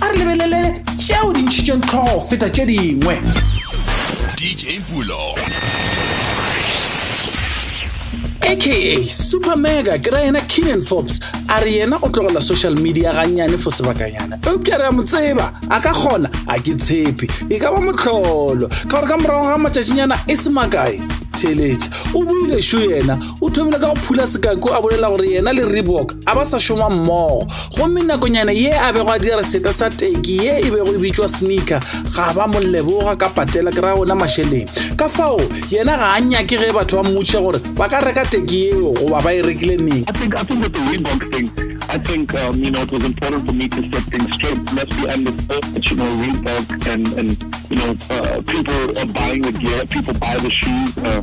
a re lebelele tšeo di ntšhitšeng tlhogo feta tše dingwe dj pulo aka super mega ke ra yena keenan forbes a re yena o tlogela social media gannyane fo sebakanyana eupša re a mo tseba a ka kgona a ke tshepe e ka ba motlholo ka gore ka morago ga matšatšinyana e se makae theletša o buile šo yena o thomile ka go phula sekako a bolela gore yena le reebok a ba sa šoma mmogo gomme nakonyane ye a bego a dira seta sa teki ye e bego e bitšwa sneaker ga ba mo leboga ka patela ke ra ona mašeleng ka fao yena ga a nyake ge batho ba mmutše gore ba ka reka teki yeo goba ba e rekile neng I think, I think with the Reebok thing, I think um, you know it was important for me to set things straight. Plus, we understood that you know Reebok and and you know uh, people are buying the gear, people buy the shoes. Uh,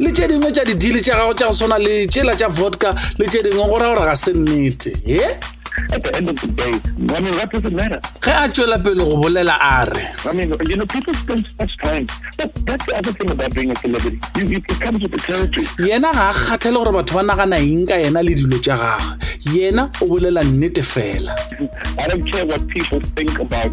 le tše dingwe tša didili tša gago tša go swana le tšela tša vodka le tše dingwe go ra gore ga se nnete e At the end of the day, I mean, what does it matter? ge a tšwela pele go bolela a re I mean, you know, people spend so much time. But that's the other thing about being a celebrity. You, you, it comes with the territory. yena ga a kgathele gore batho ba nagana eng ka yena le dilo tša gagwe yena o bolela nnete fela I don't care what people think about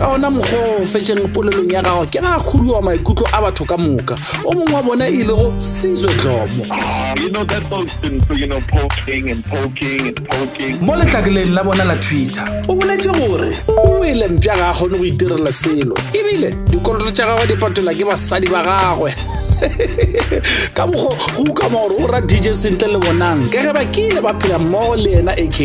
ka ona mokgwa o fetšeng polelong ya gago ke ga khuduwa maikutlo a batho ka moka o mongwe wa bona e ilego sizwe dlomo mo letlakeleng la bona la twitter o boletse gore o wele mpša ga a kgone go itirela selo ebile dikoloto tša gagwe di patelwa ke basadi ba gagwe ka mokgo go ukama gore o ra dj sentle le bonang ka ge ba kile ba phela mmogo le yena aka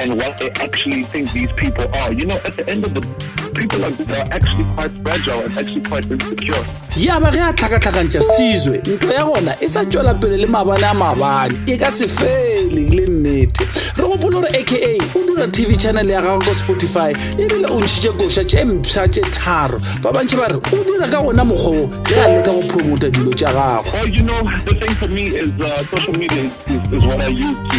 and what they actually think these people are. You know, at the end of the people like this are actually quite fragile and actually quite insecure. ya ba ge a tlhakatlhakantša sizwe ntlo ya gona e sa tšwela pele le mabane a mabane e ka se fele le nnete re gopolo gore aka o dira tv channel ya gagwe ko spotify ebile o ntšhitše koša tše mpsha tše tharo ba bantšhi ba re o dira ka gona mokgwoo ge a leka go promota dilo tša gagwe Well, you know, the thing for me is uh, social media is, is, is what I use to